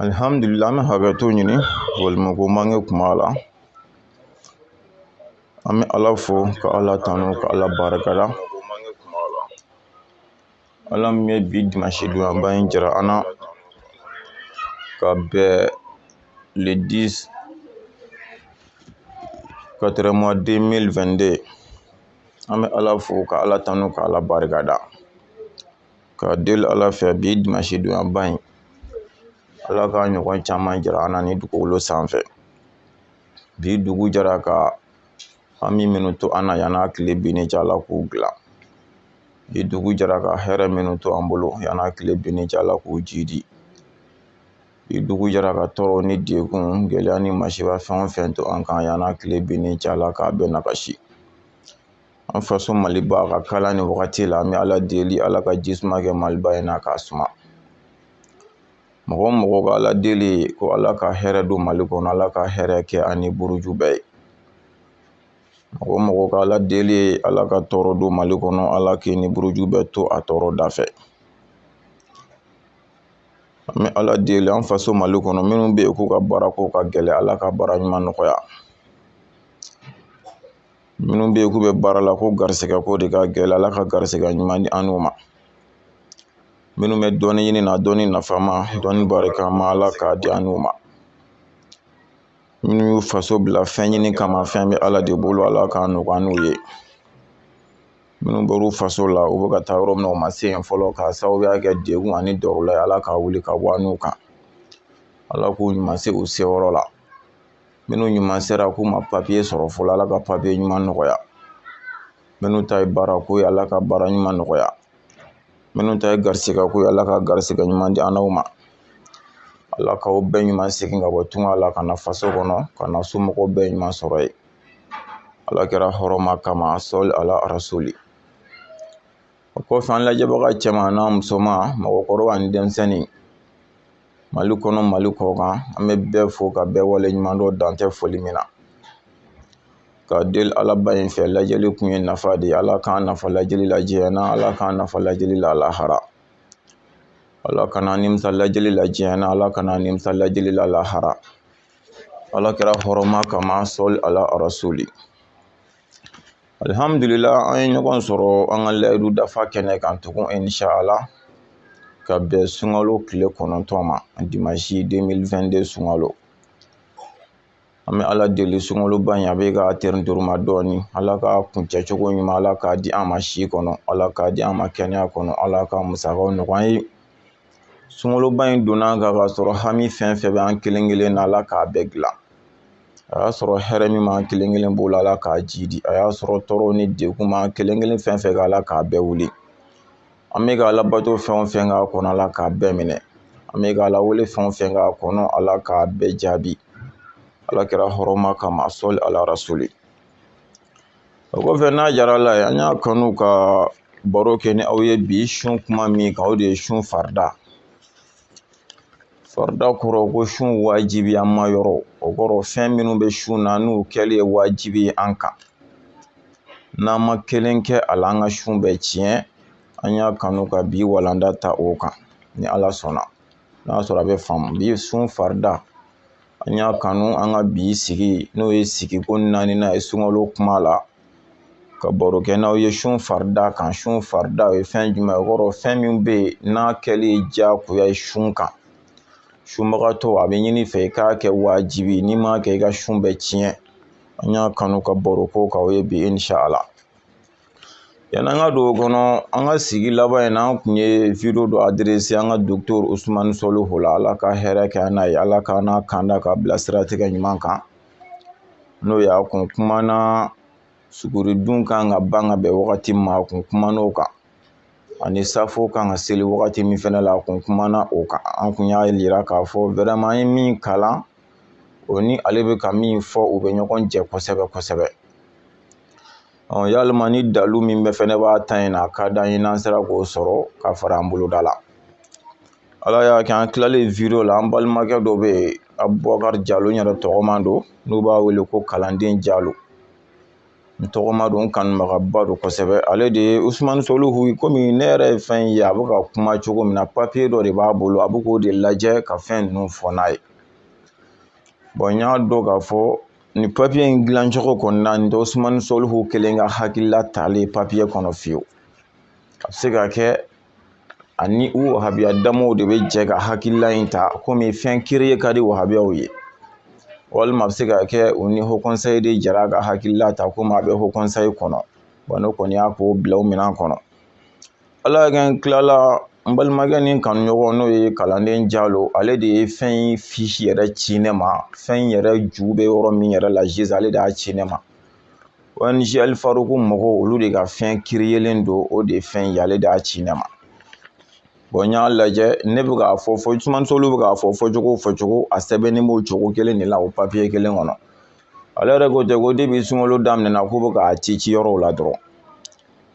alihamdulila an bɛ hakɛto ɲini walima ko mange kuma la an bɛ ala fo ka ala tanu ka ala barika da ala min ye bi dimansi donyaba in jira an na ka bɛn le 10 4 mois 2022 an bɛ ala fo ka ala tanu ka ala barika da ka deli ala fɛ bi dimansi donyaba in ala ka ɲɔgɔn caman jira an na ni dugukolo sanfɛ bi dugu jɛra ka hami minnu to an na yan n'a tile binni cɛ ala k'u dilan bi dugu jɛra ka hɛrɛ minnu to an bolo yan n'a tile binni cɛ ala k'u jiidi bi dugu jɛra ka tɔɔrɔ ni degun gɛlɛya ni masiba fɛn o fɛn to an kan yan n'a tile binni cɛ ala k'a bɛɛ nagasi an faso maliba ka kalan ni wagati la an bɛ ala deli ala ka jisuma kɛ maliba in na k'a suma mɔgɔ o mɔgɔ ka ala deli ye ko ala ka hɛrɛ don mali kɔnɔ ala ka hɛrɛ kɛ a ni buruju bɛɛ ye mɔgɔ o mɔgɔ ka ala deli ye ala ka tɔɔrɔ don mali kɔnɔ ala k'i ni buruju bɛɛ to a tɔɔrɔ da fɛ an bɛ ala deli an faso mali kɔnɔ minnu bɛ yen k'u ka baara ko ka gɛlɛn ala ka baara ɲuman nɔgɔya minnu bɛ yen k'u bɛ baara la ko garisɛgɛ ko de ka gɛlɛn ala ka garisɛgɛ ɲuman di an n'u ma minnu bɛ dɔnni ɲini na dɔnni nafama dɔnni barikama ala k'a di an n'u ma minnu y'u faso bila fɛn ɲini kama fɛn bɛ ala de bolo ala k'a nɔgɔya an n'u ye minnu bɔr'u faso la u bɛ ka taa yɔrɔ min na u ma se yen fɔlɔ k'a sababuya kɛ degun ani dɔw la ala k'a wuli ka bɔ an n'u kan ala k'u ɲuman se u seyɔrɔ la minnu ɲuman sera k'u ma papiye sɔrɔ fɔlɔ ala ka papiye ɲuman nɔgɔya minnu ta ye baara ko ye ala ka baara ɲuman nɔgɔya minnu ta ye garisigɛ ko ye ala ka garisigɛ ɲuman di an n'aw ma ala k'aw bɛɛ ɲuman segin ka bɔ tunga la ka na faso kɔnɔ ka na somɔgɔw bɛɛ ɲuman sɔrɔ yen ala kira hɔrɔma kama sɔli ala rasuli o kɔfɛ an lajɛbaga cɛman n'a musoman mɔgɔkɔrɔba ni denmisɛnnin mali kɔnɔ mali kɔkan an bɛ bɛɛ fo ka bɛɛ waleɲumandɔn dan tɛ foli min na ka deli alaba in fɛ lajɛli kun ye nafa de ye ala k'an nafa lajɛli la diɲɛ na ala k'an nafa lajɛli la lahara ala kana nimisa lajɛli la diɲɛ na ala kana nimisa lajɛli la lahara ala kira hɔrɔma kama sɔli ala rasuli alihamdulila an ye ɲɔgɔn sɔrɔ an ka layidu dafa kɛnɛ kan tugun inisa ala ka bɛn sunkalo tile kɔnɔntɔn ma dimansi 2022 sunkalo an bɛ ala deli sunkaloba in a bɛ ka tɛrɛntoroma dɔɔni ala k'a kuncɛ cogo ɲuman ala k'a di an ma si kɔnɔ ala k'a di an ma kɛnɛya kɔnɔ ala k'a musakaw nɔgɔya an ye sunkaloba in donna ka k'a sɔrɔ hami fɛn fɛn bɛ an kelen kelen na ala k'a bɛɛ dilan a y'a sɔrɔ hɛrɛ min b'an kelen kelen bolo ala k'a jiidi a y'a sɔrɔ tɔɔrɔw ni degun b'an kelen kelen fɛn fɛn kan ala k'a bɛɛ wuli an bɛ ka ala bato fɛn o fɛn k'a kɔnɔ ala k'a bɛɛ minɛ an bɛ ka ala wele fɛn o fɛn k'a kɔnɔ ala k'a bɛɛ jaabi ala kira hɔrɔma kama sɔli ala rasuli o kɔfɛ n'a diyara ala ye an y'a kanu ka baro kɛ ni aw ye bi sun kuma min kan o de ye sun farida farida kɔrɔ ko sun wajibi an ma yɔrɔ o kɔrɔ fɛn minnu bɛ sun na n'u kɛli ye wajibi ye an kan n'an ma kelen kɛ a la an ka sun bɛ tiɲɛ an y'a kanu ka bi walanda ta o kan ni ala sɔnna n'a sɔrɔ a bɛ faamu bi sun farida an y'a kanu an ka bi sigi n'o ye sigi ko naaninan ye sunkalo kuma la ka baro kɛ n'aw ye sun farida kan sun farida o ye fɛn jumɛn ye o kɔrɔ fɛn min bɛ yen n'a kɛli ye diyagoya ye sun kan sunbagatɔ a bɛ ɲini fɛ i k'a kɛ wajibi n'i m'a kɛ i ka sun bɛ tiɲɛ an y'a kanu ka baro k'o kan o ye bi inshallah Yan'an ka don o kɔnɔ an ka sigi laban in na an kun ye wideyo dɔ aderese an ka docteur usumani solihu la ala ka hɛrɛ kɛ an n'a ye ala k'an n'a kanda ka bila siratigɛ ɲuman kan n'o y'a kun kumana suguridun kan ka ban ka bɛn wagati min ma a kun kumana o kan ani safo kan ka seli wagati min fɛnɛ la a kun kumana o kan an kun y'a yira k'a fɔ vraiment an ye min kalan o ni ale bɛ ka min fɔ u bɛ ɲɔgɔn jɛ kosɛbɛ kosɛbɛ ɔ yalima ni dalu min bɛ fɛnɛ b'a ta in na a k'a d'an ye n'an sera k'o sɔrɔ ka fara an boloda la ala y'a kɛ an kilalen wideyo la an balimakɛ dɔ bɛ yen abubakari jalo n yɛrɛ tɔgɔma don n'u b'a wele ko kalanden jalo n tɔgɔma don n kanubagaba don kosɛbɛ ale de ye usumani soluhu komi ne yɛrɛ ye fɛn ye a bɛ ka kuma cogo min na papiye dɔ de b'a bolo a bɛ k'o de lajɛ ka fɛn ninnu fɔ n'a ye bɔn n y'a dɔn k'a fɔ ni papiye in dilancogo kɔni na nin tɛ usumani soluhu kelen ka hakilila talen papiye kɔnɔ fiyewu a bɛ se ka kɛ ani u wahabiya damaw de bɛ jɛ ka hakilila in ta komi fɛn kiriye ka di wahabiyaw ye walima a bɛ se ka kɛ u ni hɔkɔnsayi de jara ka hakilila ta komi a bɛ hɔkɔnsayi kɔnɔ bɔn ne kɔni y'a ko bila o minɛn kɔnɔ ala kɛ n tilala n balimakɛ ni kanuɲɔgɔn n'o ye kalanden jalo ale de ye fɛn in fisi yɛrɛ ci ne ma fɛn in yɛrɛ ju bɛ yɔrɔ min yɛrɛ la sisan ale de y'a ci ne ma ong alifaruku mɔgɔw olu de ka fɛn kiriyelen don o de ye fɛn ye ale de y'a ci ne ma bɔn n y'a lajɛ ne bɛ k'a fɔ fɔ usumani soluhu bɛ k'a fɔ fɔ cogo fɔ cogo a sɛbɛnnen b'o cogo kelen de la o papiye kelen kɔnɔ ale yɛrɛ ko ten ko depi sunkalo daminɛna k'u bɛ k'a ci ci yɔrɔw la dɔrɔn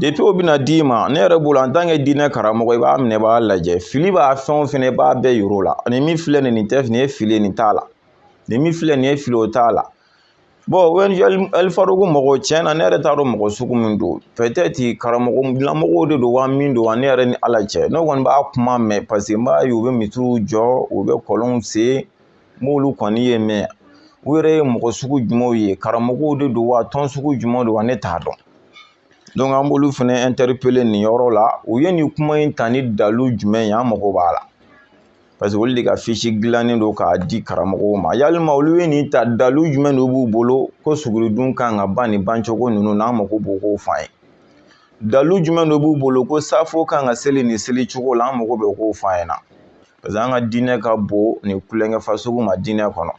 depi o bɛna d'i ma ne yɛrɛ bolo en tant que diinɛ karamɔgɔ i b'a minɛ i b'a lajɛ fili b'a fɛn o fɛn i b'a bɛɛ yir'o la ani min filɛ nin nin tɛ nin ye fili nin t'a la nin min filɛ nin ye fili o t'a la bɔn alifaruku mɔgɔw tiɲɛ na ne yɛrɛ t'a dɔn mɔgɔ sugu min don pɛtɛti karamɔgɔ dilanmɔgɔw de don wa min don wa ne yɛrɛ ni ala cɛ ne kɔni b'a kuma mɛn paseke n b'a ye u bɛ misiriw jɔ u bɛ kɔlɔnw sen n b'olu kɔni ye mɛ u yɛrɛ ye mɔgɔ sugu jumɛnw ye karamɔgɔw de don wa tɔn sugu jumɛn don wa ne t'a dɔn donc an b'olu fɛnɛ interpeller nin yɔrɔ la u ye nin kuma in ta ni dalu jumɛn ye an mago b'a la parce que olu de ka fiche dilannen don k'a di karamɔgɔw ma yalima olu ye nin ta dalu jumɛn de b'u bolo ko suguridun kan ka ban nin bancogo ninnu n'an mago b'o k'o f'an ye dalu jumɛn de b'u bolo ko safo kan ka seli nin seli cogo la an mago bɛ k'o f'an ɲɛna paseke an ka diinɛ ka bon nin tulonkɛ fasugu ma diinɛ kɔnɔ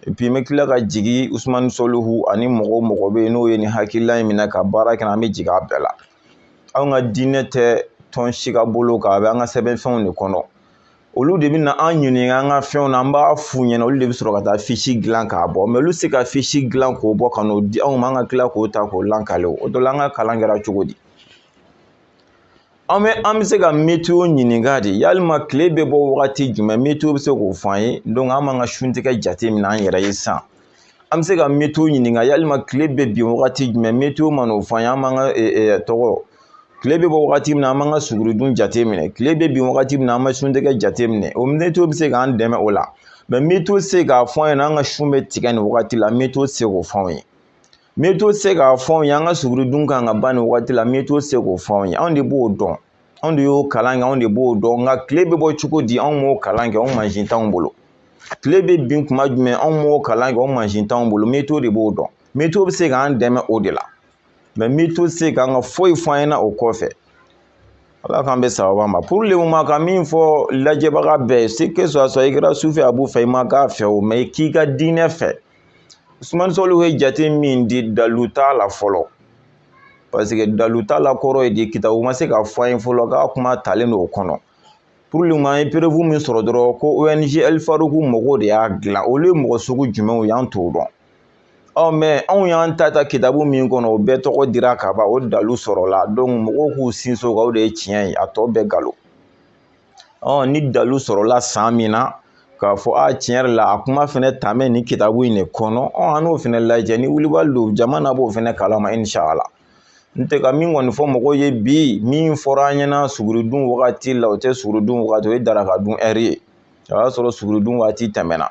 n bɛ tila ka jigin usumani soluhu ani mɔgɔ mɔgɔ bɛ yen n'o ye nin hakilila in minɛ ka baara kɛ an bɛ jigin a bɛɛ la anw ka diinɛ tɛ tɔn si ka bolo kan a bɛ an ka sɛbɛnfɛnw de kɔnɔ olu de bɛ na an ɲininka an ka fɛnw na an b'a f'u ɲɛna olu de bɛ sɔrɔ ka taa fisi dilan k'a bɔ mɛ olu tɛ se ka fisi dilan k'o bɔ ka n'o di anw ma an ka tila k'o ta k'o lankale o dɔ la an ka kalan kɛra cogo di an bɛ an bɛ se ka metiyo ɲininka de yalima tile bɛ bɔ wagati jumɛn metiyo bɛ se k'o fɔ an ye an b'an ka suntigɛ jate minɛ an yɛrɛ ye sisan an bɛ se ka metiyo ɲininka yalima tile bɛ bin wagati jumɛn metiyo man'o fɔ an ye an b'an ka tɔgɔ tile bɛ bɔ wagati min na an b'an ka suguridun jate minɛ tile bɛ bin wagati min na an bɛ suntigɛ jate minɛ o metiyo bɛ se k'an dɛmɛ o la mɛ metiyo tɛ se k'a fɔ an ɲɛna an ka sun bɛ tigɛ nin wagati la metiyo tɛ se k'o fɔ an ye metiyo tɛ se k'a fɔ anw ye an ka suguridun kan ka ban nin waati la metiyo tɛ se k'o fɔ anw ye anw de b'o dɔn anw de y'o kalan kɛ anw de b'o dɔn nka tile bɛ bɔ cogo di anw m'o kalan kɛ anw mansin t'anw bolo tile bɛ bin kuma jumɛn anw m'o kalan kɛ anw mansin t'anw bolo metiyo de b'o dɔn metiyo bɛ se k'an dɛmɛ o de la mɛ metiyo tɛ se k'an ka foyi fɔ an ɲɛna o kɔfɛ ala k'an bɛ sababa ma pour le moment ka min fɔ lajɛbaga bɛɛ ye c'est que soit soit i kɛra sufɛ a b'u fɛ i ma k'a fɛ o mɛ k'i ka diinɛ fɛ usumani soluhu ye jate min di dalu t'a la fɔlɔ parce que dalu t'a la kɔrɔ ye di kitabu ma se k'a fɔ an ye fɔlɔ k'a kuma talen don o kɔnɔ pour le moment an ye preuve min sɔrɔ dɔrɔn ko ong alifaruku mɔgɔw de y'a dilan olu ye mɔgɔ sugu jumɛnw y'an t'o dɔn ɔ mɛ anw y'an ta ta kitabu min kɔnɔ o bɛɛ tɔgɔ dira ka ban o dalu sɔrɔla donc mɔgɔw k'u sinsin o kan o de ye tiɲɛ ye a tɔ bɛɛ galo ɔ ni dalu sɔrɔla san min na k'a fɔ a tiɲɛ yɛrɛ la a kuma fɛnɛ taamɛ nin kitabu in de kɔnɔ ɔ an n'o fɛnɛ lajɛ ni wulibali don jama na b'o fɛnɛ kalama inshala n tɛ ka min kɔni fɔ mɔgɔw ye bi min fɔra an ɲɛna suguridun wagati la o tɛ suguridun wagati o ye daraka dun ɛri ye o y'a sɔrɔ suguridun wagati tɛmɛna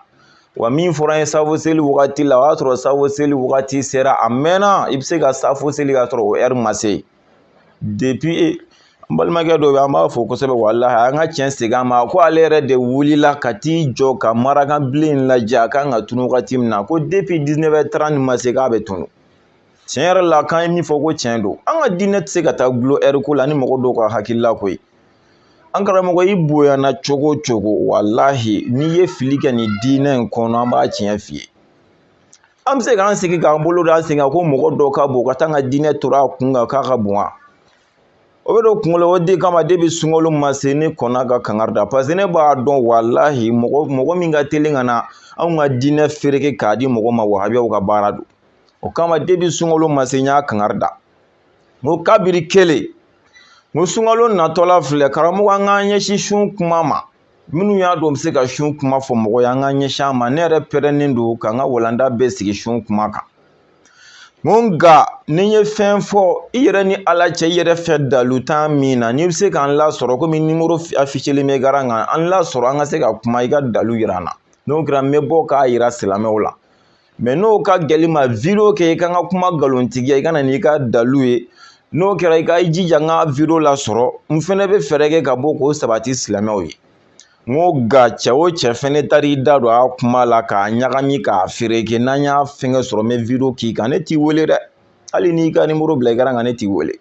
wa min fɔra an ye safo seli wagati la o y'a sɔrɔ safo seli wagati sera a mɛnna i bɛ se ka safo seli k'a sɔrɔ o ɛri ma se depi n balimakɛ dɔ bɛ an b'a fo kosɛbɛ walahi an ka tiɲɛ segin a ma ko ale yɛrɛ de wulila ka t'i jɔ ka marakanbilen in lajɛ a kan ka tunu wagati min na ko depi dix-neuf heures trente ma se k'a bɛ tunu tiɲɛ yɛrɛ la k'an ye min fɔ ko tiɲɛ don an ka diinɛ tɛ se ka taa gloire ko la ni mɔgɔ dɔw ka hakilila ko ye an karamɔgɔ i bonyana cogo o cogo walahi n'i ye fili kɛ nin diinɛ in kɔnɔ an b'a tiɲɛ f'i ye an bɛ se k'an sigi k'an bolo da an sen kan ko mɔgɔ dɔ ka bon ka taa an ka diinɛ tora a kun kan k'a ka bon wa o bɛ don kunkolo o de kama depi sunkalo ma se ne kɔnna ka kangari da paseke ne b'a dɔn walahi mɔgɔ min ka teli ka na anw ka diinɛ fereke k'a di mɔgɔ ma wahabiyaw ka baara don o kama depi sunkalo ma se n y'a kangari da n ko kabiri kelen n ko sunkalo natɔla filɛ karamɔgɔ an k'an ɲɛsin sun kuma ma minnu y'a dɔn bɛ se ka sun kuma fɔ mɔgɔ ye an k'an ɲɛsin a ma ne yɛrɛ pɛrɛnnen don ka n ka walanda bɛɛ sigi sun kuma kan nka ni n ye fɛn fɔ i yɛrɛ ni ala cɛ i yɛrɛ fɛ dalu tɛ min na n'i bɛ se k'an lasɔrɔ komi nimoro afiselen bɛ écran kan an lasɔrɔ an ka se ka kuma i ka dalu yira an na n'o kɛra n bɛ bɔ k'a yira silamɛw la mɛ n'o ka gɛlɛn i ma video kɛ i ka n ka kuma nkalontigiya i ka na n'i ka dalu ye n'o kɛra i ka i jija n ka video lasɔrɔ n fɛnɛ bɛ fɛɛrɛ kɛ ka bɔ k'o sabati silamɛw ye n ko nka cɛ o cɛ fɛnɛ taara i da don a kuma la k'a ɲagami k'a fereke n'an y'a fɛngɛ sɔrɔ n bɛ video k'i kan ne t'i wele dɛ hali n'i ka nimoro bila écran kan ne t'i wele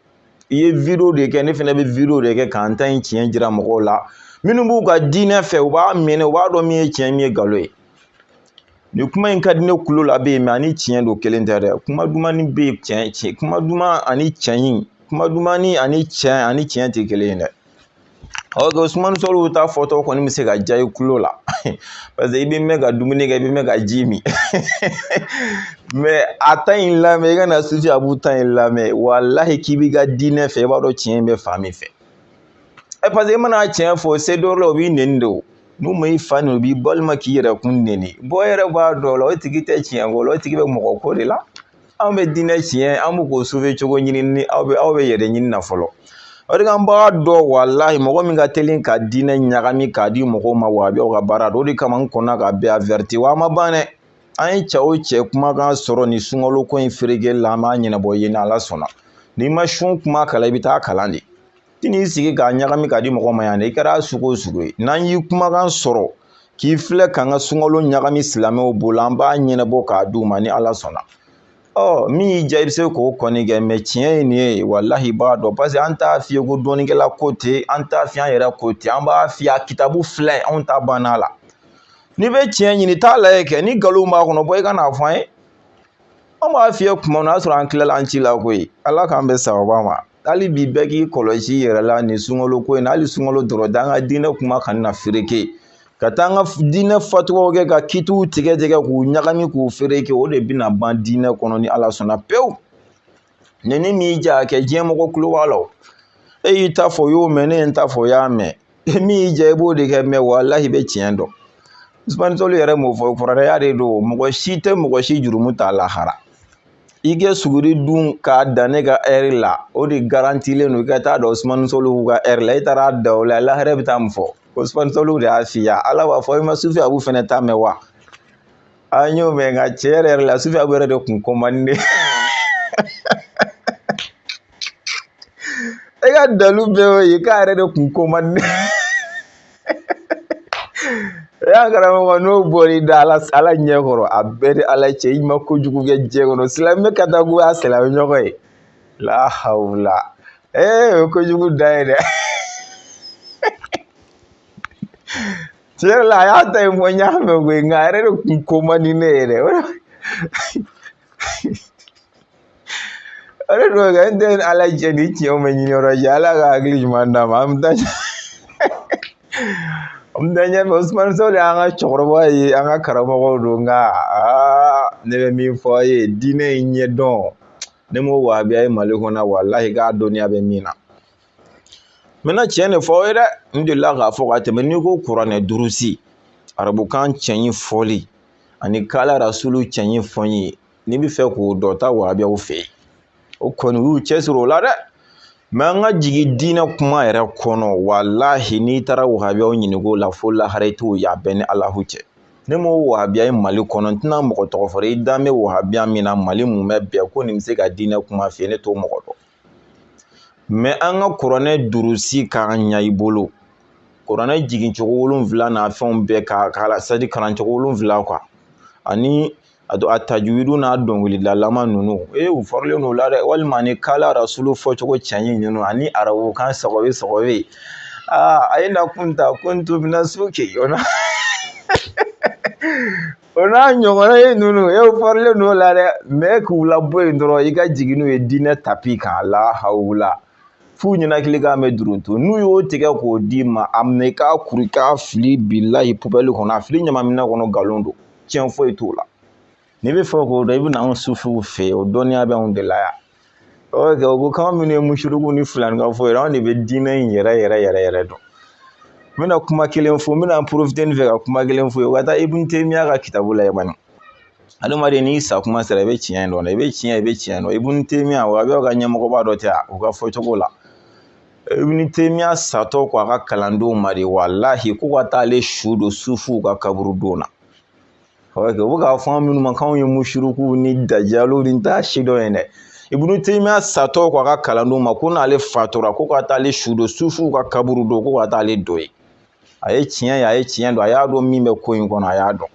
i ye video de kɛ ne fɛnɛ bɛ video de kɛ k'an ta in tiɲɛ jira mɔgɔw la minnu b'u ka diinɛ fɛ u b'a minɛ u b'a dɔn min ye tiɲɛ min ye nkalon ye nin kuma in ka di ne kulo la bɛ yen mɛ ani tiɲɛ don kelen tɛ dɛ kuma dumannin bɛ yen tiɲɛ kuma duman ani tiɲɛ kuma dumannin ani tiɲɛ tɛ kelen ye dɛ oke usumani sɔlihu ta fɔtɔ kɔni bɛ se ka diya i kulo la paseke i bɛ mɛn ka dumuni kɛ i bɛ mɛn ka ji min mɛ a ta in lamɛn i ka na sufi abu ta in lamɛn walahi k'i b'i ka diinɛ fɛ i b'a dɔn tiɲɛ in bɛ fan min fɛ ɛ parce que e mana tiɲɛ fɔ se dɔ la o b'i nɛni de o n'u ma i fa nɛni o b'i balima k'i yɛrɛ kun nɛni bɔ e yɛrɛ b'a dɔn o la o tigi tɛ tiɲɛ ko la o tigi bɛ mɔgɔ ko de la anw bɛ diinɛ tiɲɛ an bɛ k'o sauver cogo ɲini ni aw bɛ aw bɛ yɛrɛ ɲini na fɔlɔ o de kan b'a dɔn walahi mɔgɔ min ka teli ka diinɛ ɲagami k'a di mɔgɔw ma wahabiyaw ka baara don o de kama n kɔnna ka bɛɛ averti wa a ma ban dɛ an ye cɛ o cɛ kumakan sɔrɔ nin sunkalo ko in feerekeli la an b'a ɲɛnabɔ yen ni ala sɔnna n'i ma sun kuma kalan i bɛ taa kalan de i n'i sigi k'a ɲagami k'a di mɔgɔ ma yan dɛ i kɛra sugu o sugu ye n'an y'i kumakan sɔrɔ k'i filɛ k'an ka sunkalo ɲagami silamɛw bolo an b'a ɲɛnabɔ k'a d'u ma ni ala sɔnna ɔ min y'i diya i bɛ se k'o kɔni kɛ mɛ tiɲɛ ye nin ye walahi i b'a dɔn parce que an t'a f'i ye ko dɔnnikɛla ko ten an t'a f'i an yɛrɛ ko ten an b'a f'i ye a kitabu filɛ anw ta banna a la n'i bɛ tiɲɛ ɲini t'a lajɛ kɛ ni nkalon b'a kɔnɔ bɔ i ka n'a fɔ an ye an b'a f'i ye tuma min o y'a sɔrɔ an tilala an ci la koyi ala k'an bɛ sababa ma hali bi bɛɛ k'i kɔlɔsi i yɛrɛ la nin sunkalo ko in na hali sunkalo dɔrɔn tɛ an ka diinɛ kuma kana na fereke ka taa an ka diinɛ fatuwaw kɛ ka kitiw tigɛ tigɛ k'u ɲagami k'u fereke o de bɛna ban diinɛ kɔnɔ ni ala sɔnna pewu ni nin m'i diya kɛ diɲɛ mɔgɔ kulo b'a la e y'i ta fɔ o y'o mɛn ne ye n ta fɔ o y'a mɛn min y'i diya i b'o de kɛ mɛ walahi i bɛ tiɲɛ dɔn usumani sɔlu yɛrɛ m'o fɔ furadaya de don mɔgɔ si tɛ mɔgɔ si jurumu ta lahara i kɛ suguri dun k'a dan ne ka ɛri la o de garantilen don i ka taa da usumani sɔlu ka ɛri la i taara da o la lahara i bɛ taa mun fɔ usumani sɔlu de y'a f'i ye ala b'a fɔ i ma sufi abu fɛnɛ ta mɛn wa an y'o mɛn nka tiɲɛ yɛrɛ yɛrɛ la sufi abu yɛrɛ de kun ko man di n ye e ka dalu bɛɛ y'o ye k'a yɛrɛ de kun ko man di i ye a karamɔgɔ n'o bɔr'i da la ala ɲɛ kɔrɔ a b'e ni ala cɛ i ma kojugu kɛ diɲɛ kɔnɔ silamɛ ka taa goya silamɛ ɲɔgɔn ye lahawula ee o ye kojugu dan ye dɛ tiɲɛ la a y'a ta ye fɔ n y'a mɛn koyi nka a yɛrɛ de kun ko man di ne ye dɛ o de o de don kɛ n tɛ ala jɛ ni tiɲɛw bɛ ɲini yɔrɔ jɛ ala ka hakili ɲuman d'a ma an bɛ taa an bɛ taa ɲɛfɛ usumani sɔlu y'an ka cɛkɔrɔba ye an ka karamɔgɔw don nka aa ne bɛ min fɔ aw ye diinɛ in ɲɛdɔn ne m'o wahabiya ye mali kɔnɔ walahi k'a dɔnniya bɛ min na n bɛna tiɲɛ de fɔ aw ye dɛ n delila k'a fɔ ka tɛmɛ n'i ko kuranɛ durusi arabukan cɛɲi fɔli ani kala rasulu cɛɲi fɔli n'i bɛ fɛ k'o dɔn taa wahabiyaw fɛ yen u kɔni y'u cɛsiri o la dɛ mɛ an ka jigin diinɛ kuma yɛrɛ kɔnɔ walahi n'i taara wahabiyaw ɲininko la fo lahara i t'o ye a bɛ n ni alahu cɛ ne m'o wahabiya ye mali kɔnɔ n tɛna mɔgɔ tɔgɔ fɔ i dan bɛ wahabiya min na mali mun bɛ bɛn ko nin bɛ se ka diinɛ kuma f'i ye ne t'o mɔgɔ dɔn mɛ an ka kuranɛ durusi k'a ɲɛ i bolo kuranɛ jigin cogo wolonwula n'a fɛnw bɛɛ k'a kalan c'est-à-dire kalan cogo wolonwula kan ani a don a tajuwidu n'a dɔnkilidalama ninnu ee u fɔrilen don o la dɛ walima ni kala arasulu fɔcogo cɛɲi ninnu ani arabukan sɔgɔbɛ sɔgɔbɛ ye aa ayina kunta kuntu mina suki o la o n'a ɲɔgɔnna ye ninnu e fɔrilen n'o la dɛ mɛ k'u labɔ yen dɔrɔn i ka jigin n'u ye diinɛ tapi kan lahawula f'u ɲɛnakili k'a mɛ duruntu n'u y'o tigɛ k'o d'i ma a minɛ i k'a kuru i k'a fili bilahi pubɛli kɔnɔ a fili ɲamanminɛn kɔnɔ nkalon don tiɲɛ foyi t'o la n'i b'a fɛ k'o dɔn i bɛ na anw sufiw fɛ yen o dɔnniya bɛ anw de la yan oke u ko k'an minnu ye musiriku ni filanikafo ye anw de bɛ diinɛ in yɛrɛ yɛrɛ yɛrɛ yɛrɛ dɔn n bɛna kuma kelen fɔ n bɛna n porofite nin fɛ ka kuma kelen f'aw ye u ka taa ibun temiya ka kitabu layɛlɛ bani adamaden n'i sa kuma sera i bɛ tiɲɛ dɔn i bɛ tiɲɛ i bɛ tiɲɛ dɔn ibun temiya wahabiw ka ɲɛmɔgɔba dɔ tɛ yan u ka fɔcogo la ibun temiya satɔ ko a ka kalandenw ma dɛ walahi ko ka taa ale su don sufuw ka kaburudon na u bɛ k'a fɔ an minnu ma k'anw ye musirikuw ni dajaliw ni t'a si dɔn ye dɛ ibunu teyimiya satɔ k'a ka kalandenw ma ko n'ale fatura ko ka taa ale su don sufuw ka kaburudon ko ka taa ale don yen a ye tiɲɛ ye a ye tiɲɛ dɔn a y'a dɔn min bɛ ko in kɔnɔ a y'a dɔn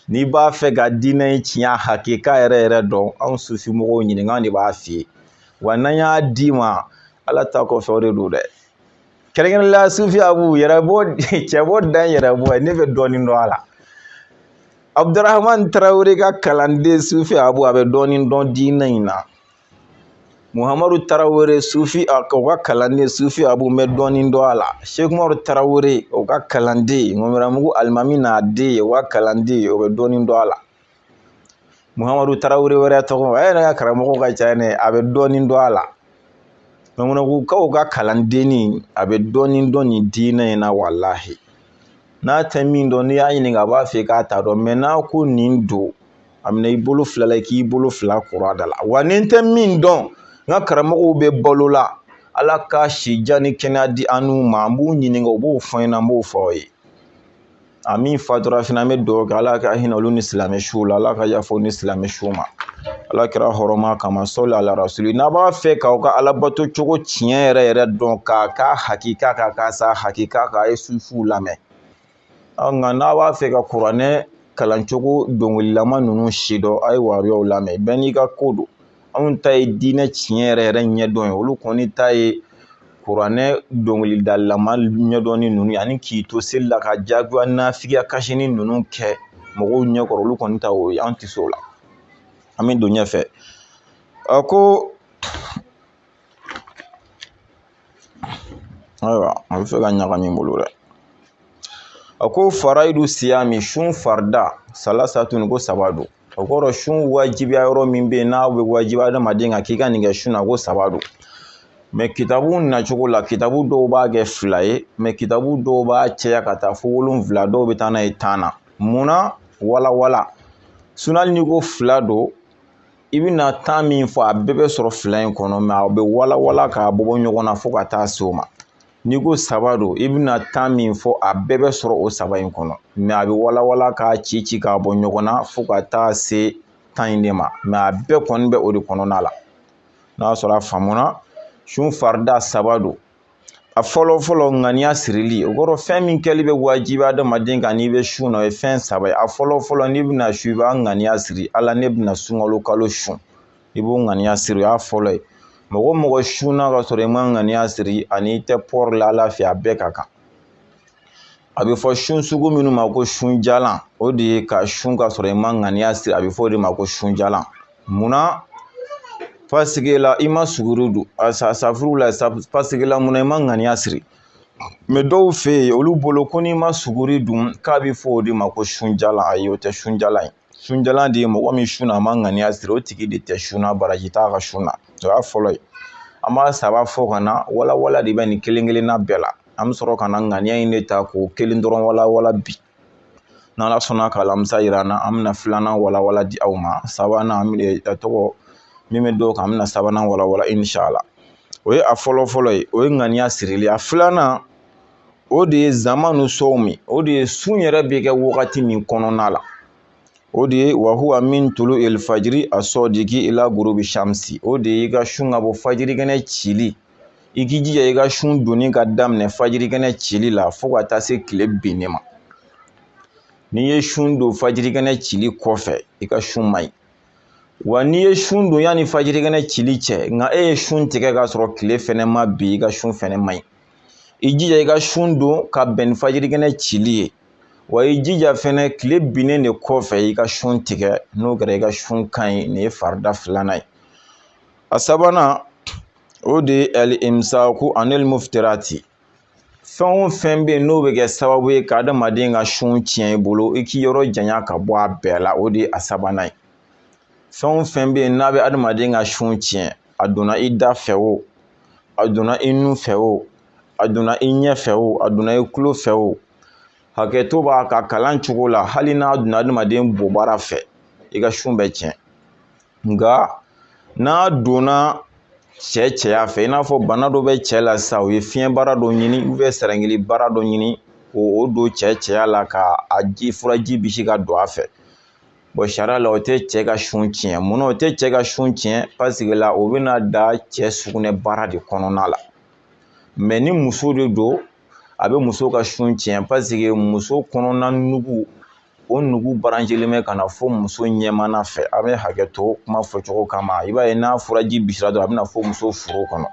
n'i b'a fɛ ka diinɛ in tiɲɛ hakika yɛrɛ yɛrɛ dɔn anw sufi mɔgɔw ɲininka de b'a f'i ye wa n'an y'a d'i ma ala ta kɔfɛ o de don dɛ kɛrɛnkɛrɛn la sufi abu yɛrɛ bɔ cɛ bɔ dan yɛrɛ bɔ ne bɛ dɔɔnin dɔn a la abudurahman tarawele ka kalanden sufi abu a bɛ dɔɔnin dɔn diinɛ in na muhamadu tarawele sufi o ka kalanden sufi abu bɛ dɔɔnin dɔn a la sekumaru tarawele o ka kalanden ŋɔmiramugu alimami n'a den o ka kalanden o bɛ dɔɔnin dɔn a la muhamadu tarawele wɛrɛ tɔgɔ a yɛrɛ ka karamɔgɔ ka ca ne a bɛ dɔɔnin dɔn a la ŋɔmiramugukaw ka kalandenni a bɛ dɔɔnin dɔn nin diinɛ in na walahi n'a tɛ min dɔn n'i y'a ɲininka a b'a fɔ k'a t'a dɔn mɛ n'a ko nin don a minɛ i bolo fila la i k'i bolo fila kɔrɔ a da la wa ni n tɛ min dɔn n ka karamɔgɔw bɛ balo la ala ka si jan ni kɛnɛya di an n'u ma an b'u ɲininka u b'o fɔ an ɲɛna an b'o fɔ aw ye a min fatura fana an bɛ dugawu kɛ ala ka hinɛ olu ni silamɛ suw la ala ka yaf'u ni silamɛ suw ma ala kira hɔrɔma kama sɔli ala rasuli n'a b'a fɛ k'aw ka alabato cogo tiɲɛ yɛrɛ yɛrɛ dɔn k'a ka hakika k'a ka sa hakika k'a ye sufuw lamɛn nka n'a b'a fɛ ka kuranɛ kalancogo dɔnkililama ninnu sidɔn a ye wahabiyaw lamɛn bɛɛ n'i ka ko don anw ta ye diinɛ tiɲɛ yɛrɛ yɛrɛ ɲɛdɔn ye olu kɔni ta ye kuranɛ dɔnkilidalama ɲɛdɔnni ninnu ani k'i to seli la ka jaguya nafigiya kasini ninnu kɛ mɔgɔw ɲɛkɔrɔ olu kɔni ta o ye an tɛ se o la an bɛ don ɲɛfɛ a ko ayiwa a bɛ fɛ ka ɲagami n bolo dɛ a ko farayidu siyami sun farida salasatun ko saba don o kɔrɔ sun wajibiya yɔrɔ min bɛ yen n'a bɛ wajibi adamaden kan k'i ka nin kɛ sun na ko saba don mɛ kitabu nacogo la kitabu dɔw b'a kɛ fila ye mɛ kitabu dɔw b'a cɛya ka taa fo wolonfila dɔw bɛ taa n'a ye tan na munna walawala sun na n'i ko fila don i bɛna tan min fɔ a bɛɛ bɛ sɔrɔ fila in kɔnɔ mɛ a bɛ walawala k'a bɔ bɔ ɲɔgɔn na fo ka taa se o ma n'i ko saba don i bɛna tan min fɔ a bɛɛ bɛ sɔrɔ o saba in kɔnɔ mɛ a bɛ walawala k'a ci ci k'a bɔ ɲɔgɔn na fo ka taa se tan in de ma mɛ a bɛɛ kɔni bɛ o de kɔnɔna la n'a sɔrɔ a faamuna sun farida saba don a fɔlɔ fɔlɔ ŋaniya sirili o kɔrɔ fɛn min kɛli bɛ wajibi adamaden kan n'i bɛ sun na o ye fɛn saba ye a fɔlɔ fɔlɔ n'i bɛna sun i b'a ŋaniya siri ala ne bɛna sunkalo kalo sun i b'o ŋaniya siri o y'a fɔlɔ ye mɔgɔ mɔgɔ sunna ka sɔrɔ i ma ŋaniya siri ani i tɛ pɔri la ala fɛ a bɛɛ ka kan a bɛ fɔ sun sugu minnu ma ko sunjalan o de ye ka sun ka sɔrɔ i ma ŋaniya siri a bɛ fɔ o de ma ko sunjalan munna pasike la i ma suguri dun a safuru la pasike la munna i ma ŋaniya siri mɛ dɔw fɛ yen olu bolo ko n'i ma suguri dun k'a bɛ fɔ o de ma ko sunjalan ayi o tɛ sunjalan ye sunjalan de ye mɔgɔ min sunna a ma ŋaniya siri o tigi de tɛ sun na baraji t'a ka sun na o y'a fɔlɔ ye an b'a saba fɔ ka na walawala de bɛ nin kelen kelenna bɛɛ la an bɛ sɔrɔ ka na ŋaniya in de ta k'o kelen dɔrɔn walawala bi n'ala sɔnna ka alamisa yira an na an bɛna filanan walawala di aw ma sabanan an bɛ dɔgɔ min bɛ d'o kan an bɛna sabanan walawala insala o ye a fɔlɔ fɔlɔ ye o ye ŋaniya sirili a filanan o de ye zamanu sɔwmi o de ye sun yɛrɛ bɛ kɛ wagati min kɔnɔna la o de ye wa huwa min tulu elifajiri asɔdiki ila gurubi shamsi o de ye i ka sun ka bɔ fajirikɛnɛ cili i k'i jija i ka sun donni ka daminɛ fajirikɛnɛ cili la fo ka taa se kile binni ma n'i ye sun don fajirikɛnɛ cili kɔfɛ i ka sun man ɲi wa n'i ye sun don yanni fajirikɛnɛ cili cɛ nka e ye sun tigɛ k'a sɔrɔ kile fɛnɛ ma bin i ka sun fɛnɛ man ɲi i jija i ka sun don ka bɛn ni fajirikɛnɛ cili ye wa i jija fɛnɛ kile binnen de kɔfɛ i ka sun tigɛ n'o kɛra i ka sun ka ɲi nin ye farida filanan ye a sabanan o de ye alimsaku anil muftirati fɛn o fɛn bɛ yen n'o bɛ kɛ sababu ye ka adamaden ka sun tiɲɛ i bolo i k'i yɔrɔ janya ka bɔ a bɛɛ la o de ye a sabanan ye fɛn o fɛn bɛ yen n'a bɛ adamaden ka sun tiɲɛ a donna i da fɛ o a donna i nun fɛ o a donna i ɲɛ fɛ o a donna i tulo fɛ o hakɛto b'a ka kalan cogo la hali n'a donna adamaden bobara fɛ i ka sun bɛ tiɲɛ nka n'a donna cɛ cɛya fɛ i n'a fɔ bana dɔ bɛ cɛ la sisan u ye fiɲɛbara dɔ ɲini sɛrɛngili bara dɔ ɲini k'o don cɛ cɛya la ka a ji furaji bisi ka don a fɛ sariya la o tɛ cɛ ka sun tiɲɛ mun na o tɛ cɛ ka sun tiɲɛ paseke la o bɛna da cɛ sugunɛbara de kɔnɔna la mɛ ni muso de don a bɛ muso ka sun tiɲɛ paseke muso kɔnɔna nugu o nugu baranjɛlen bɛ ka na fɔ muso ɲɛmana fɛ a bɛ hakɛto kuma fɔcogo kama i b'a ye n'a furaji bisira dɔrɔn a bɛna fɔ muso furu kɔnɔ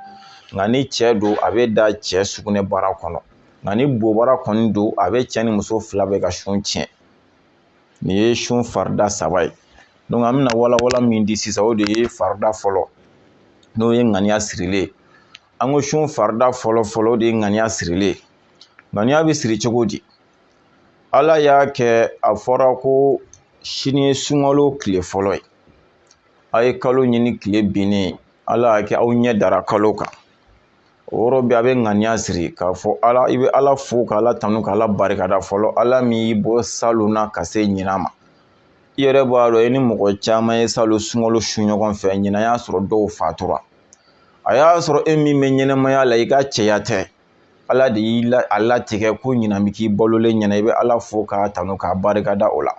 nka ni cɛ don a bɛ da cɛ sugunɛbara kɔnɔ nka ni bobara kɔni don a bɛ cɛ ni muso fila bɛɛ ka sun tiɲɛ nin ye sun farida saba ye an bɛna walawala min di sisan o de ye farida fɔlɔ n'o ye ŋaniya sirilen ye an ko sun farida fɔlɔ fɔlɔ de ye ŋaniya sirilen ŋaniya bɛ siri cogo di ala y'a kɛ a fɔra ko sini ye sunkalo tile fɔlɔ ye a ye kalo ɲini tile binnen ala y'a kɛ aw ɲɛ dara kalo kan o yɔrɔ bɛɛ a bɛ ŋaniya siri k'a fɔ ala i bɛ ala fo ka ala tanu ka ala barikada fɔlɔ ala min y'i bɔ salon na ka se ɲinan ma i yɛrɛ b'a dɔn i ni mɔgɔ caman ye salon sunkalo sun ɲɔgɔn fɛ ɲinan y'a sɔrɔ dɔw fatura a y'a sɔrɔ e min bɛ ɲɛnɛmaya la i ka cɛya tɛ ala de y'a latigɛ ko ɲinan bɛ k'i balolen ɲɛna i bɛ ala fo k'a tanu k'a barika da o la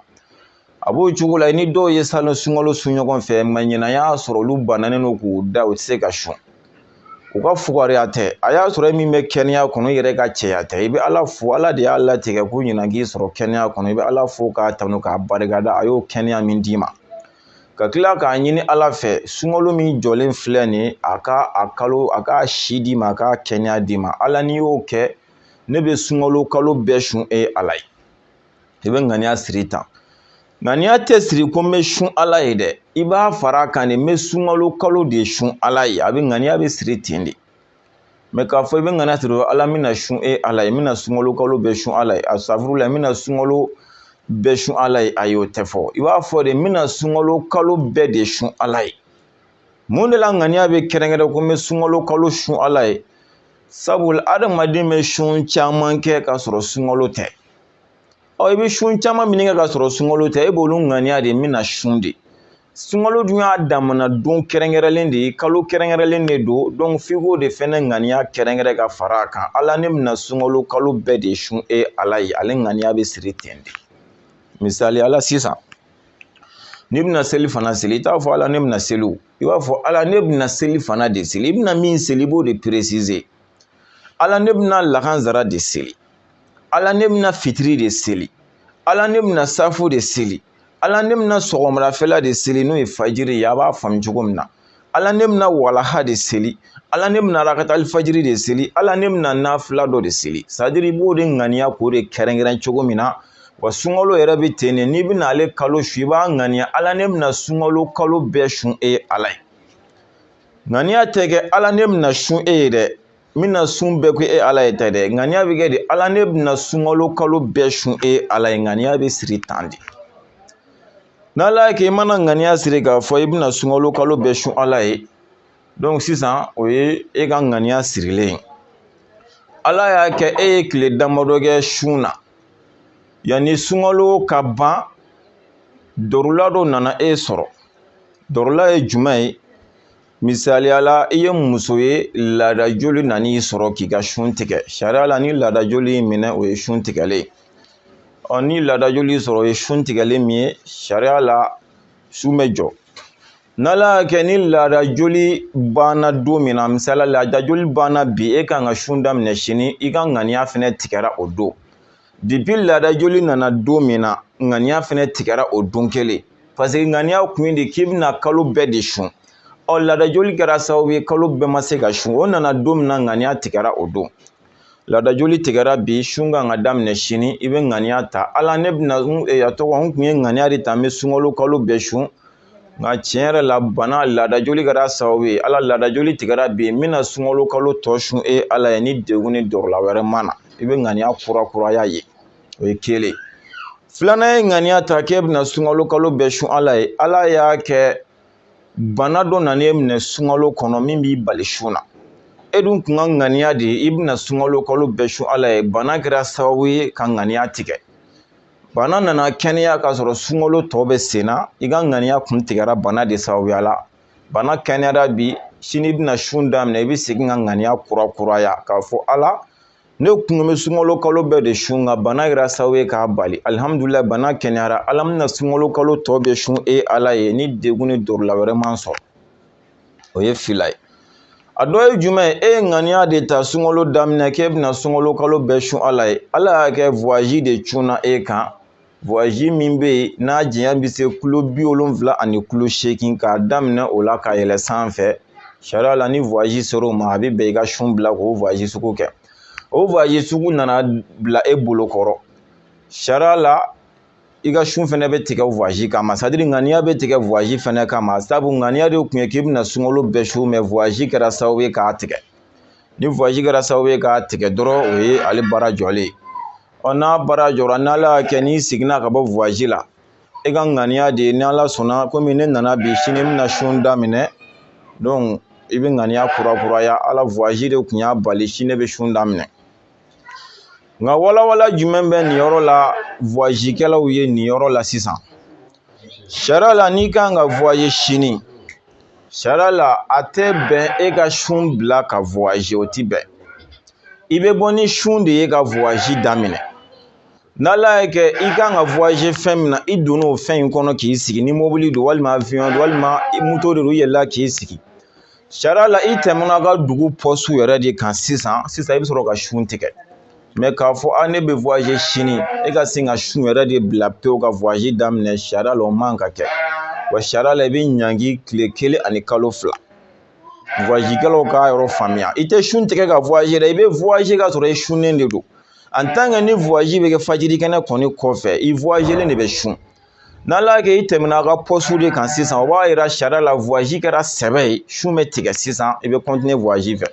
a b'o cogo la i ni dɔw ye salon sunkalo sun ɲɔgɔn fɛ mɛ ɲinan y'a sɔrɔ olu bananen don k'u da u tɛ se ka sun u ka fugariya tɛ a y'a sɔrɔ e min bɛ kɛnɛya kɔnɔ i yɛrɛ ka cɛya tɛ i bɛ ala fo ala de y'a latigɛ ko ɲinan k'i sɔrɔ kɛnɛya kɔnɔ i bɛ ala fo k'a tanu k'a barika da a y'o kɛnɛya min d'i ma ka tila k'a ɲini ala fɛ sunkalo min jɔlen filɛ nin ye a ka a kalo a ka si d'i ma a ka kɛnɛya d'i ma ala n'i y'o kɛ ne bɛ sunkalo kalo bɛɛ sun e ala ye i bɛ ŋaniya siri tan ŋaniya tɛ siri ko n bɛ sun ala ye dɛ i b'a fara a kan de n bɛ sunkalo kalo de sun ala ye a bɛ ŋaniya bɛ siri ten de mɛ k'a fɔ i bɛ ŋaniya siri ala n bɛna sun e ala ye n bɛna sunkalo kalo bɛɛ sun ala ye asafurulayi n bɛna sunkalo bɛɛ sun ala ye ayi o tɛ fɔ i b'a fɔ de n bɛna sunkalo kalo bɛɛ de sun ala ye mun de la ŋaniya bɛ kɛrɛnkɛrɛn ko n bɛ sunkalo kalo sun ala ye sabula adamaden bɛ sun caman kɛ k'a sɔrɔ sunkalo tɛ ɔ i bɛ sun caman min kɛ k'a sɔrɔ sunkalo tɛ e b'olu ŋaniya de n bɛna sun de sunkalo dun y'a damana don kɛrɛnkɛrɛnlen de ye kalo kɛrɛnkɛrɛnlen de don donc f'i k'o de fɛnɛ ŋaniya kɛrɛnkɛrɛn ka fara a kan ala ne bɛna sunkalo kalo bɛɛ de sun e ala ye ale ŋaniya bɛ siri ten de misali la sisan n'i bɛna selifana seli i t'a fɔ ala ne bɛna seli o i b'a fɔ ala ne bɛna selifana de seli i bɛna min seli i b'o de préciser ala ne bɛna lakanzara de seli ala ne bɛna fitiri de seli ala ne bɛna safo de seli ala ne bɛna sɔgɔmadafɛla de seli n'o ye fajiri ye a b'a faamu cogo min na ala ne bɛna walaha de seli ala ne bɛna rakatali fajiri de seli ala ne bɛna nafila dɔ de seli sadiri i b'o de ŋaniya k'o de kɛrɛnkɛrɛn cogo min na wa sunkalo yɛrɛ bɛ ten de n'i bɛna ale kalo sun i b'a ŋaniya ala ne bɛna sunkalo kalo bɛɛ sun e ala ye ŋaniya tɛ kɛ ala ne bɛna sun e ye dɛ n bɛna sun bɛɛ ko e ala ye tɛ dɛ ŋaniya bɛ kɛ de ala ne bɛna sunkalo kalo bɛɛ sun e ala ye ŋaniya bɛ siri tan de n'ala y'a kɛ i mana ŋaniya siri k'a fɔ i bɛna sunkalo kalo bɛɛ sun ala ye dɔnki sisan o ye e ka ŋaniya sirilen ye ala y'a kɛ e ye tile damadɔ kɛ sun na yanni sunkalo ka ban dɔrɔla dɔ nana e sɔrɔ dɔrɔla ye jumɛn ye Misaliya la i ye muso ye laada joli nan'i sɔrɔ k'i ka sun tigɛ sariya la ni laada joli y'i minɛ o ye sun tigɛlen ye ni laada joli y'i sɔrɔ o ye sun tigɛlen min ye sariya la sun bɛ jɔ n'ala y'a kɛ ni laada joli banna don min na misaliya laada joli banna bi e kan ka sun daminɛ sini i ka ŋaniya fɛnɛ tigɛra o don dipi laada joli nana don min na ŋaniya fɛnɛ tigɛra o don kelen paseke ŋaniya kun ye de k'i bɛna kalo bɛɛ de sun ɔ laada joli kɛra sababu ye kalo bɛɛ ma se ka sun o nana don min na ŋaniya tigɛra o don laada joli tigɛra bi sun kan ka daminɛ sini i bɛ ŋaniya ta ala ne bɛna e, a tɔgɔ n kun ye ŋaniya de ta n bɛ sunkalo kalo bɛɛ sun nka tiɲɛ yɛrɛ la bana laada joli kɛra sababu ye ala laada joli tigɛra bi n bɛna sunkalo kalo tɔ sun e ala ye ni degun ni dɔrɔla wɛrɛ ma na i bɛ ŋaniya kurakuraya ye o ye kelen filanan e ye ŋaniya ta k'e bɛna sunkalo kalo bɛɛ sun ala ye ala y'a kɛ bana dɔ nana e minɛ sunkalo kɔnɔ min b'i bali sun na e dun kun ka ŋaniya de ye i bɛna sunkalo kalo bɛɛ sun ala ye bana kɛra sababu ye ka ŋaniya tigɛ bana nana kɛnɛya k'a sɔrɔ sunkalo tɔ bɛ sen na i ka ŋaniya kun tigɛra bana de sababuya la bana kɛnɛyara bi sini i bɛna sun daminɛ i bɛ segin ka ŋaniya kurakuraya k'a fɔ ala ne kun bɛ sunkalo kalo bɛɛ de sun nka bana kɛra sababu ye k'a bali alihamudulilahi bana kɛnɛyara ala n bɛna sunkalo kalo tɔ bɛɛ sun e ala ye ni degun ni dɔrɔla wɛrɛ ma n sɔrɔ o ye fila ye a dɔ ye jumɛn ye e ye ŋaniya de ta sunkalo daminɛ k'e bɛna sunkalo kalo bɛɛ sun ala ye ala y'a kɛ vwazi de cunna e kan vwazi min bɛ yen n'a janya bɛ se kilo bi wolonfila ani kilo seegin k'a daminɛ o la ka yɛlɛ sanfɛ sariya la ni vwazi sera o ma a bɛ bɛn i ka sun bila k'o vwazi sugu kɛ o vwazi sugu nana bila e bolo kɔrɔ sariya la i ka sun fɛnɛ bɛ tigɛ voyage kama c'est-à-dire ŋaniya bɛ tigɛ voyage fɛnɛ kama sabu ŋaniya de tun ye k'i bɛna sunkalo bɛɛ sun mais voyage kɛra sababu ye k'a tigɛ ni voyage kɛra sababu ye k'a tigɛ dɔrɔn o ye ale baara jɔlen ye ɔ n'a baara jɔra n'ala y'a kɛ n'i seginna ka bɔ voyage la i ka ŋaniya de ye ni ala sɔnna komi ne nana bi sini bɛna sun daminɛ donc i bɛ ŋaniya kurakuraya ala voyage de tun y'a bali sini bɛ sun daminɛ nka walawala jumɛn bɛ nin yɔrɔ la voyage kɛlaw ye nin yɔrɔ la sisan sariya la n'i kan ka voyage sini sariya la a tɛ bɛn e ka sun bila ka voyage o ti bɛn i bɛ bɔ ni sun de ye ka voyage daminɛ n'ala y'a kɛ i kan ka voyage fɛn min na i donna o fɛn in kɔnɔ k'i sigi ni mobili don walima avion don walima moto de don i yɛlɛla k'i sigi sariya la i tɛmɛna ka dugu poste yɛrɛ de kan sisan sisan i bɛ sɔrɔ ka sun tigɛ mais k'a fɔ a ne bɛ voyage sini e ka sin ka sun yɛrɛ de bila pewu ka voyage daminɛ sariya la o man ka kɛ wa sariya la i bɛ ɲangi tile kelen ani kalo fila voyage kɛlaw k'a yɔrɔ faamuya i tɛ sun tigɛ ka voyage dɛ i bɛ voyage ka sɔrɔ i sunnen de don en tant que ni voyage bɛ kɛ fajiri kɛnɛ kɔni kɔfɛ i voyagelen de bɛ sun n'ala y'a kɛ i tɛmɛna ka poste de kan sisan o b'a yira sariya la voyage kɛra sɛbɛ ye sun bɛ tigɛ sisan i bɛ continuer voyage fɛ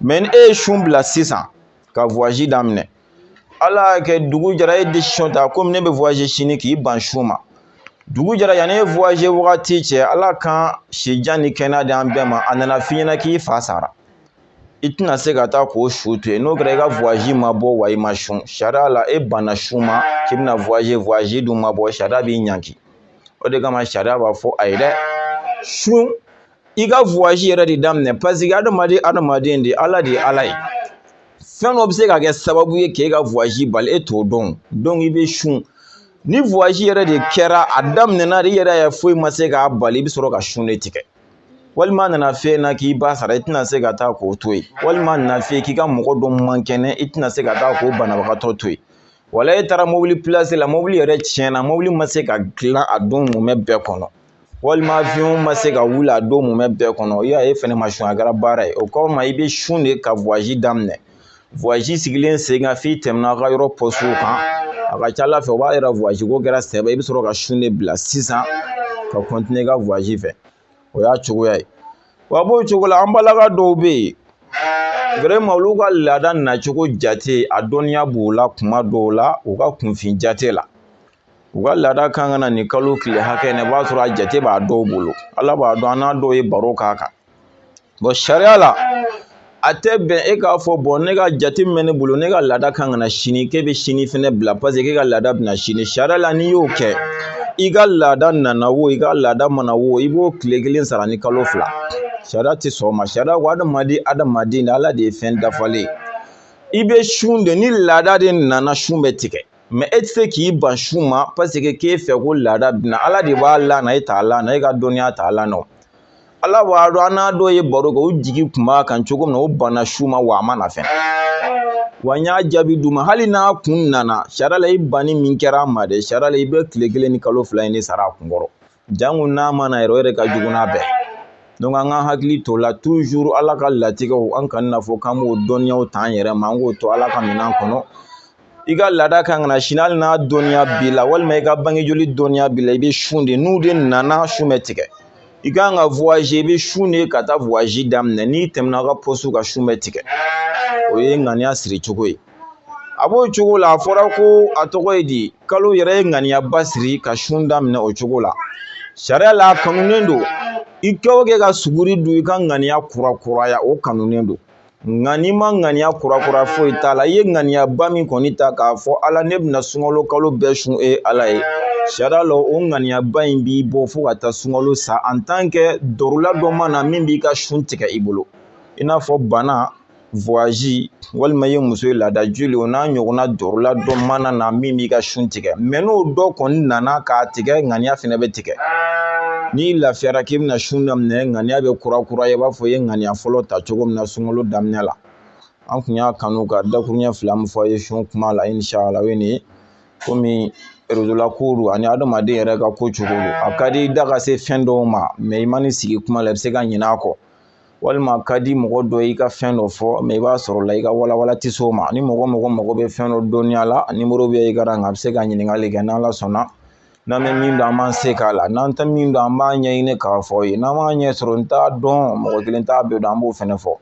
mais ni e ye sun bila sisan ka voyage daminɛ ala y'a kɛ dugu jɛra e ye décision ta komi ne bɛ voyage sini k'i ban sun ma dugu jɛra yanni e voyage wagati cɛ ala kan sijan ni kɛnɛya di an bɛɛ ma a nana f'i ɲɛna k'i fa sara i tɛna se ka taa k'o su to yen n'o kɛra i ka voyage ma bɔ wa i ma sun sariya la e banna sun ma k'i bɛna voyage voyage dun ma bɔ sariya b'i ɲangi o de kama sariya b'a fɔ ayi dɛ sun i ka voyage yɛrɛ de daminɛ parce que adamaden adamaden de ala de ye ala ye fɛn dɔ bɛ se ka kɛ sababu ye k'e ka voyage bali e t'o dɔn donc i bɛ sun ni voyage yɛrɛ de kɛra a daminɛna de i yɛrɛ y'a ye foyi ma se k'a bali i bɛ sɔrɔ ka sun de tigɛ walima a nana f'i ɲɛna k'i ba sara i tɛna se ka taa k'o to yen walima a nana f'i ye k'i ka mɔgɔ dɔ man kɛnɛ i tɛna se ka taa k'o banabagatɔ to yen wala e taara mobili pilasi la mobili yɛrɛ tiɲɛna mobili ma se ka dilan a don mumɛ bɛɛ kɔnɔ walima avion ma se ka wuli a don mumɛ bɛɛ kɔnɔ i y'a ye e fɛnɛ ma sun a kɛra baara ye o kɔrɔ ma i bɛ sun de ka voyage daminɛ voyage sigilen sen kan f'i tɛmɛna aw ka yɔrɔ poste kan a ka ca ala fɛ o b'a yira voyage ko kɛra sɛbɛ i bɛ sɔrɔ ka sun de bila sisan ka continuer i ka voyage fɛ o y'a cogoya ye wa a b'o cogo la an balaka dɔw bɛ yen vraiment olu ka laada nacogo jate a dɔnniya b'u la kuma dɔw la u ka kunfin jate la u ka laada kan ka na nin kalo tile hakɛ in na i b'a sɔrɔ a jate b'a dɔw bolo ala b'a dɔn an n'a dɔw ye baro k'a kan sariya la a tɛ bɛn e k'a fɔ bɔn ne ka jate min bɛ ne bolo ne ka laada kan ka na sini k'e bɛ sini fɛnɛ bila paseke k'e ka laada bɛna sini sariya la n'i y'o kɛ i ka laada nana wo i ka laada ma na wo i b'o tile kelen sara ni kalo fila sariya tɛ sɔn o ma sariya ko adamaden adamaden de ala de ye fɛn dafalen i bɛ sun de ni laada de nana sun bɛ tigɛ mɛ e tɛ se k'i ban sun ma paseke k'e fɛ ko laada bɛna ala de b'a lana e t'a lana e ka dɔnniya t'a lana ala b'a dɔn an n'a dɔw ye baro kɛ u jigi kun b'a kan cogo min na u banna sun ma wa a ma na fɛnɛ wa n y'a jaabi d'u ma hali n'a kun nana sariya la i banni min kɛra a ma dɛ sariya la i bɛ tile kelen ni kalo fila in de sara a kun kɔrɔ janko n'a ma na yɛrɛ o yɛrɛ ka jugu n'a bɛɛ donc an ka hakili to la toujours ala ka latigɛw an kana n'a fɔ k'an b'o dɔnniyaw ta an yɛrɛ ma an k'o to ala ka minɛn kɔnɔ i ka laada kan ka na sini hali n'a dɔnniya b'i la walima i ka bange joli dɔnniya b'i la i bɛ sun de n'u de nana sun bɛ tigɛ i kan ka voyazi i bɛ sun de ka taa voyazi daminɛ n'i tɛmɛna ka pɔsiw kan sun bɛ tigɛ o ye ŋaniya siri cogo ye a b'o cogo la a fɔra ko a tɔgɔ ye di kalo yɛrɛ ye ŋaniyaba siri ka sun daminɛ o cogo la sariya la a kanunen don i kɛ o kɛ ka suguri dun i ka ŋaniya kurakuraya o kanunen don nka n'i ma ŋaniya kurakura foyi t'a la i ye ŋaniyaba min kɔni ta k'a fɔ ala ne bɛna sunkalo kalo bɛɛ sun e ala ye sariya la o ŋaniyaba in b'i bɔ fo ka taa sunkalo sa en tant que dɔrɔla dɔ ma na min b'i ka sun tigɛ i bolo i n'a fɔ bana voyazi walima i ye muso ye laada joli o n'a ɲɔgɔnna dɔrɔla dɔ mana na min b'i ka sun tigɛ mɛ n'o dɔ kɔni nana k'a tigɛ ŋaniya fana bɛ tigɛ tigɛ n'i lafiyara k'i bɛna sun daminɛ ŋaniya bɛ kurakuraya i b'a fɔ i ye ŋaniya fɔlɔ ta cogo min na sunkalo daminɛ la an kun y'a kanu ka dakuruɲɛ fila min fɔ a ye sun kuma la inshala o ye nin ye komi réseau la ko don ani adamaden yɛrɛ ka ko cogo don a ka di i da ka se fɛn dɔw ma mɛ i man'i sigi kuma la i bɛ se ka ɲinɛ a kɔ walima a ka di mɔgɔ dɔ y'i ka fɛn dɔ fɔ mɛ i b'a sɔrɔ la i ka walawala tɛ se o ma ni mɔgɔ mago bɛ fɛn dɔ dɔnniya la nimoro bɛ écran kan a bɛ se ka ɲininkali kɛ n'ala sɔnna n'an bɛ min dɔn an b'an se k'a la n'an tɛ min dɔn an b'a ɲɛɲini k'a fɔ aw ye n'an m'a ɲɛ sɔrɔ n t'a dɔn mɔgɔ kelen t'a bɛɛ dɔn an b'o fɛnɛ fɔ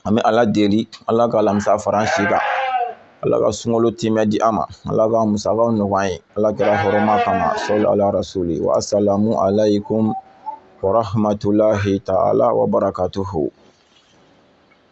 an bɛ ala deli ala ka alamisa fara an si kan ala ka sunkalo tiimɛ di an ma ala ka musakaw nɔgɔya an ye ala kira hɔrɔma kama sali ala rasuli wa asalamu alaykum wa rahmatulahi taala wa barakatuhu